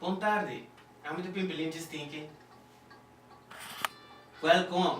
Bon tarde, ami ta Pimpilinchis Tiki. Welkom!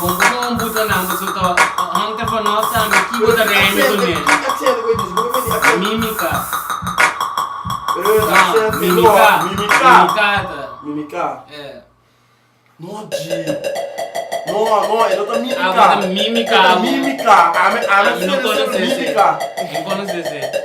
Bon bo ta un buta nan boso ta hong ta for nos tambe ki bo ta rende con el. Mimica. Mimica. Ami no conoce ese.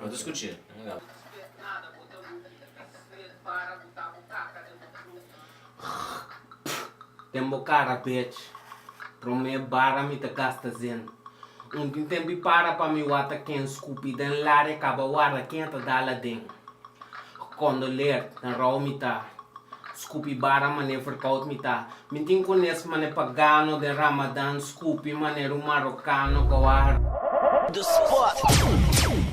Lo discutir, no da. Respet nada bo ta ruki y bisnet para buta bo caca den bo club. Den bo cara bech. Prome bara mi ta gasta zin. Un tin tempi para pa mi wata ken scupi den lari caba wara ken ta da laden. Condoleer na rou mi ta scupi bara mane verkoud mi ta mi tin cones mane pagano den Ramadan scupi maner un Marocano coa. De sport.